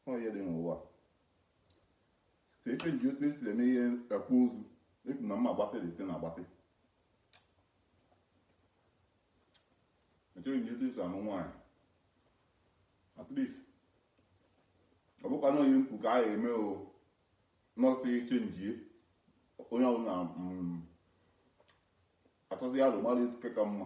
Ọ ihe dị n'ụwa so e chenji otu esi eme ihe akwa ozu ekwu na mma agbatị dị site na agbatị e chenji otu esi anụ nwaanyị at least ọ bụkwa na onye mkpu ka a ga-eme o nọọsụ chenjie onye ọbụla achọzi ya alụ mmadụ nke ka mma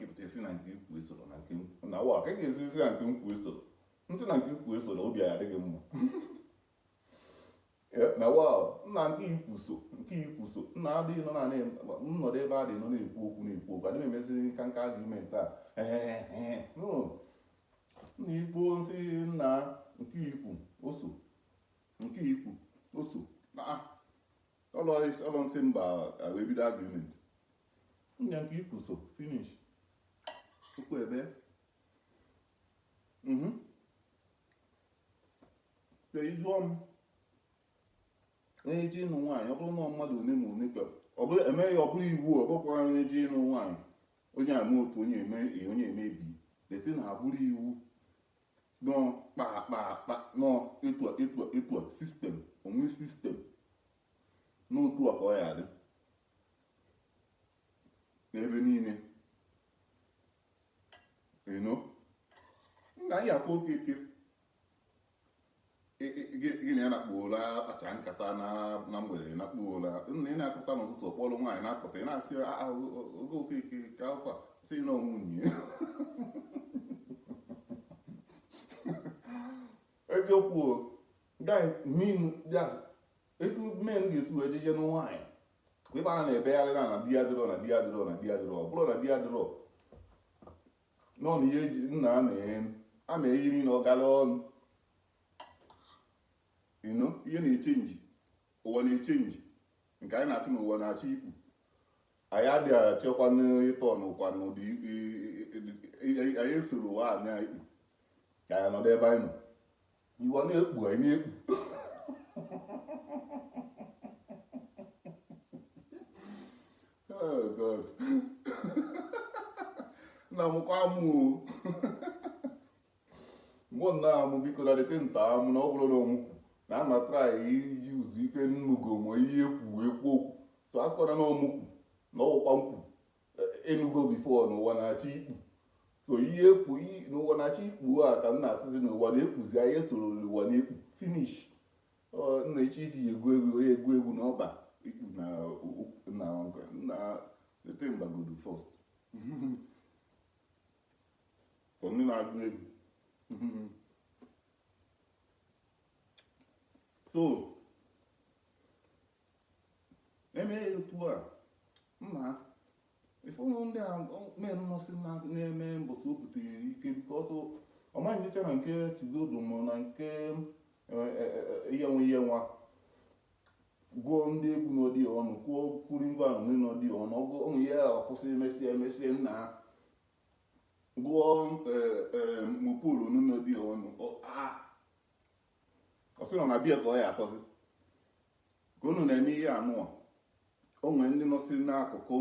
ị pụta a sị na nke i kwu esoro na nke na wa ka ga-ezizi na nke m kwu esoro m sị na nke i kwu esoro obi ya adịghị mma na wa na nke i kwu so nke i kwu so nna adịghị nọ na nnọdụ ebe a dị nọ na-ekwu okwu na-ekwu okwu adịghị emeziri nka nka argument a na-ekwu m sị na nke i kwu o so nke i kwu o so ọlọ m sị mba wee bido agreement nya nke i kwu so finish tupu ebe mhm. ka ị jụọ m onye je ịnụ nwaanyị ọ bụrụ na mmadụ one ma one kwere ọ bụrụ emeghị ọ bụrụ iwu ọ bụkwara onye je ịnụ nwaanyị onye ama otu onye eme onye emebi deti na abụrụ iwu nọ kpakpakpa nọ etu a etu a etu a system o nwe system n'otu a ka ọ ya-adị n'ebe niile you know nna anyị afọ Okeke gị na ya nakpuo ụla akpachaa nkata na mgbede nakpuo ụla nna ị na-apụta n'ụtụtụ ọ kpọrọ nwaanyị na-apụta ị na-asị oge Okeke Okafọ sị na nwunye eziokwu guy mean just etu men ga-esi wee jeje na nwaanyị kwa ebe a na-ebegharị na na di ya dịrọ na di ya dịrọ na di ya dịrọ ọ bụrụ na di ya dịrọ nọ na ihe eji nna a na-enye a na-eyi niile ọ gara ọnụ you know ihe na-echenji ụwa na-echenji nke anyị na-asị na ụwa na-achọ ikpu anyị adịghị achọkwanụ ịtọ n'ụkwa n'ụdị anyị esoro ụwa na-ekpu ka anyị nọdụ ebe anyị nọ Ụwa na-ekpu anyị na-ekpu. Oh God. Na mụkwa amụ o. Mụ na amụ biko na dịte nta amụ na ọ bụrụ na ọ mụ kwu na ama try iji ụzọ ife m nụgo ma ihe e kwu ekwu okwu so a sịkwana na ọ mụ kwu na ọ wụkwa m kwu enugo before n'ụwa na-achọ ikpu so ihe ekwu n'ụwa na-achọ ikpu a ka m na-asịzi n'ụwa na-ekpuzi anyị esoro n'ụwa na-ekpu finish nna echi isi ji egwu egwu were egwu egwu n'ọba ikpu na nna nkwa nna ete mgbagodu first ka ndị na-agụ egwu so emee ya otu a nna ife ụmụ ndị a mere mmasị na- na-eme mbọsị o butere ike biko ọsọ ọmaghị nyecha na nke chigodo ma na nke ihe nwe ihe nwa gụọ ndị egwu n'ọdị ọnụ kwuo kwuru ngwa ahụ nri n'ọdị ọnụ ọgụ ụmụ ya ọkwụsị emesịa emesịa nna ha gụọ mopol n'ọdị ọnụ Ọ- ah ọ sị nọ na bịa ka ọ ya akọzi ka unu na-eme ihe anụwa o nwere ndị nọsị n'akụkụ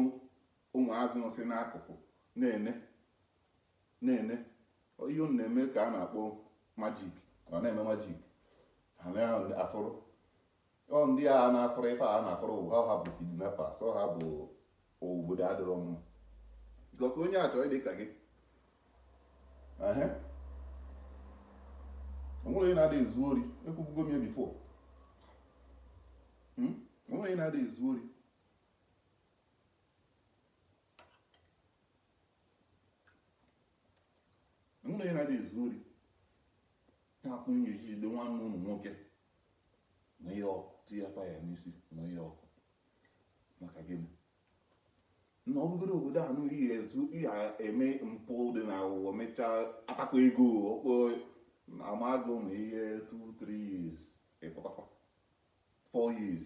ụmụazị nọsị n'akụkụ na-ene na-ene ihe unu na-eme ka a na-akpọ magic ọ na-eme magic na-afụrụ ọ ndị a na-akpọrọ ife a na-akpọrọ ụwa ha bụ kidnappers ọ ha bụ obodo adịrọ mma because onye achọ ịdị ka gị onwere onye na-adị ezu ori ekwubugo m ya before hmm? onwere onye na-adị ezu ori onwere onye na-adị ezu ori na-akpụ ihe eji jide nwanne unu nwoke na ihe ọkụ tinyekwa ya n'isi na ihe ọkụ maka gịnị na ọ bụgoro obodo a nụrụ ihe ezu ihe eme mpụ dị na aghụghọ mechaa atakwa ego ọkpọ amagụ na ihe 2 3 years ịpụtakwa 4 years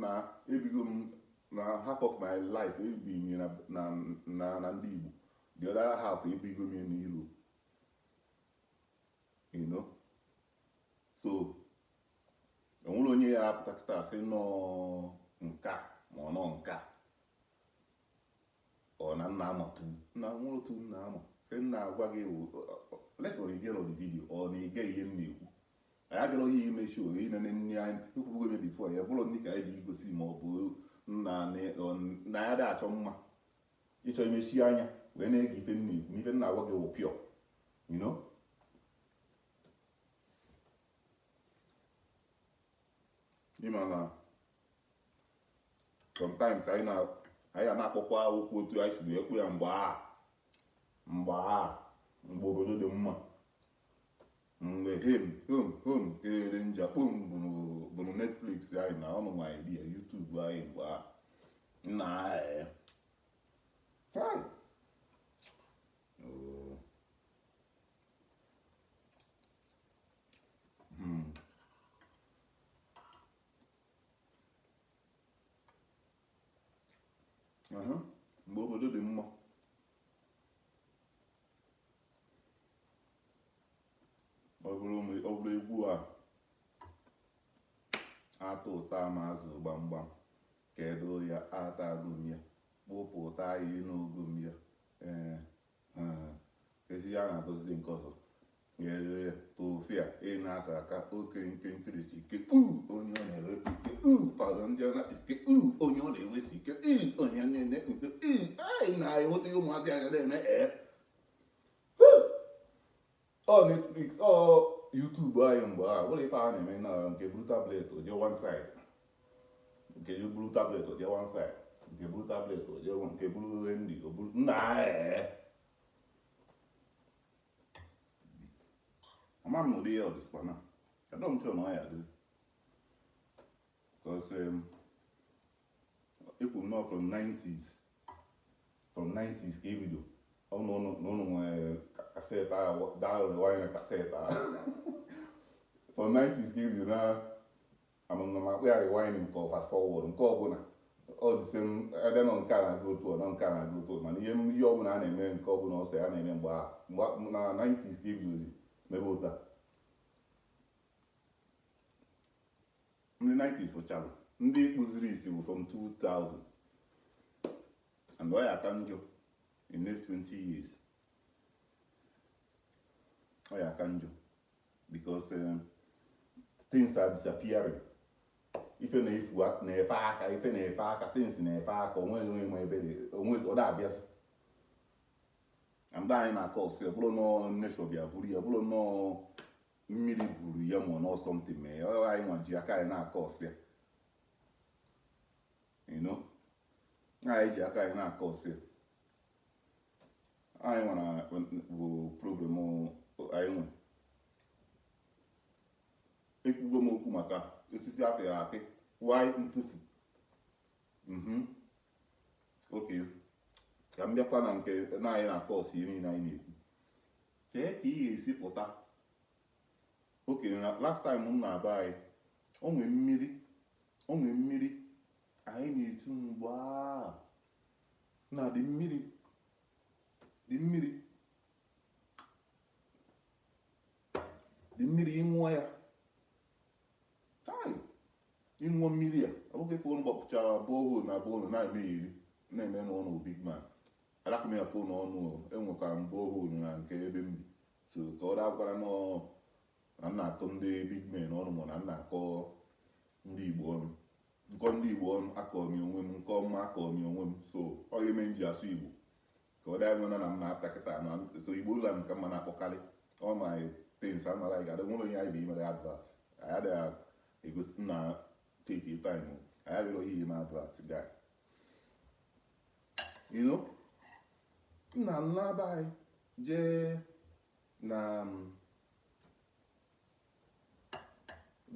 na ebigo m na half of my life ebi m ya na na na na ndị Igbo the other half ebigo m ya na Europe you know so enwerọ onye ya apụta kịta sị nọọ nke a ma ọ nọ nke a ọ na nna ama tu nna nwa otu nna ama ife m na-agwa gị wụ lesa ọ igere ọdị video ọ na-ege ihe m na-ekwu anyị abịarọ onye ime show ine na nri anyị ekwubugo ebe before ya bụrụ ndị ka anyị ga-egosi ma ọ bụ nna na ya dị achọ mma ị chọ imechi anya wee na-ege ife m na-ekwu n'ife m na-agwa gị wụ pure you know ịma na sometimes anyị na anyị a na-akpọkwa okwu otu anyị si wee kpọ ya mgbe a mgbe a mgbe obodo dị mma mgbe hem hem hem kelere nja kpom bụrụ netflix anyị na ọnụ nwa anyị ya youtube anyị mgbe a nna anyị mgbe obodo dị mma ọ bụrụ egwu a atụ ụtọ ama azụ gbamgbam kedu ya ata agụm ya kpụpụ ụtọ anyị n'ogụm ya ee E si ya na-agụziri nke ọzọ nyere tufia ị na-asa aka oke nke nkirisi ike uu onye ọ na-ewepụ ike uu pado ndị ọ na-akpịsị ike uu onye ọ na-ewesi ike ii onye na-ene nke ii anyị na-enweta ụmụazị anya na-eme ee ọ netflix ọ youtube anyị mgbe a bụrụ ife a na-eme na nke buru tablet o je one side nke buru tablet o je one side nke buru tablet o je one nke buru nri o buru nna ee ama m ụdị ya ọ dịzikwa now adọ m sure na ọ ya adịzi because um, ekwuru na from 90s from 90s ka e bido ọnụ ọnụ na ụnụ nwere cassette ahụ daalụrụ anyị na cassette ahụ from 90s ka e bido na amụna ma akpụ ya rewind nke ọ fast forward nke ọbụla ọ dịsị m ebe nọ nke a na-agụ otu ọ nọ nke a na-agụ otu ọ mana ihe m- ihe ọbụla a na-eme nke ọbụla ọ sọ ya na-eme mgbe ahụ mgbe a- na 90s ka e bidozi mebe ụta ndị 90s fụchara ndị kpụziri isi bụ from 2000 and ọ ya aka njọ in next 20 years ọ ya aka njọ because um, things are disappearing ife na-efu na-efe aka ife na-efe aka things na-efe aka o nweghị onye ma ebe ọ na-abịasị and anyị na-acause ya ọ bụrọ na ọ nature bịa buru ya ọ bụrọ na ọ mmiri buru ya ma ọ na ọ something mee ya ọ anyị nwa ji aka anyị na-acause ya you know anyị ji aka anyị na-acause ya anyị nwa bụ problem anyị nwe ekwugo m okwu maka osisi a pịrị apị why ntufu mhm okay ka m bịakwa na nke na anyị na-acause ya niile anyị na-ekwu Kee ka ị ga-esi pụta? Okay na last time m naa be anyị, o nwee mmiri, o nwee mmiri anyị na-etu mgbe a na dị mmiri dị mmiri dị mmiri ịṅụọ ya ịṅụọ mmiri a ọ bụghị ka ụnụ gbapụchara borehole na borehole na-eme iri na-eme n'ụlọ big man Arapụ m ya pụọ n'ọnụ o, enwekwa mgbe o hụrụ na nke ebe m bi. So ka ọ dakwara nọ na m na-akọ ndị big men ọnụ ma na m na-akọ ndị Igbo ọnụ. M kọọ ndị Igbo ọnụ akọọ m ya onwe m, m kọọ mma akọọ m ya onwe m. So ọ ya mere m ji asụ Igbo. Ka ọ daa nwena na m na-ata kịta na so Igbo ụlọ m ka m na-akpọkarị. All my things a mara anyị ga-adị nwere onye anyị bụ imere advert. Anyị adịghị egosi na take your time. o. Anyị adịghị ihe na advert guy. you know m naa m naa be anyị jee na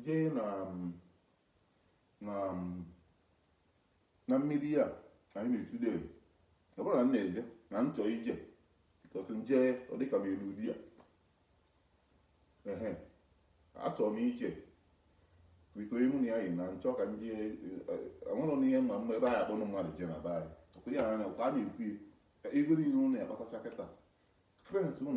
jee na na na mmiri ya anyị na-etude ọ bụrụ na m na-eje na m chọọ ije because m jee ọ dịka m elu there ehe achọrọ m ije with onye mụ na ya yi na m chọ ka ndị anwụrụ na ihe mma mma ebe anyị akpọnụ mmadụ je na be anyị ọ hụ ya anya ka a na-ekwu ya ego niile ụnụ ya kpatacha kịta friends ụnụ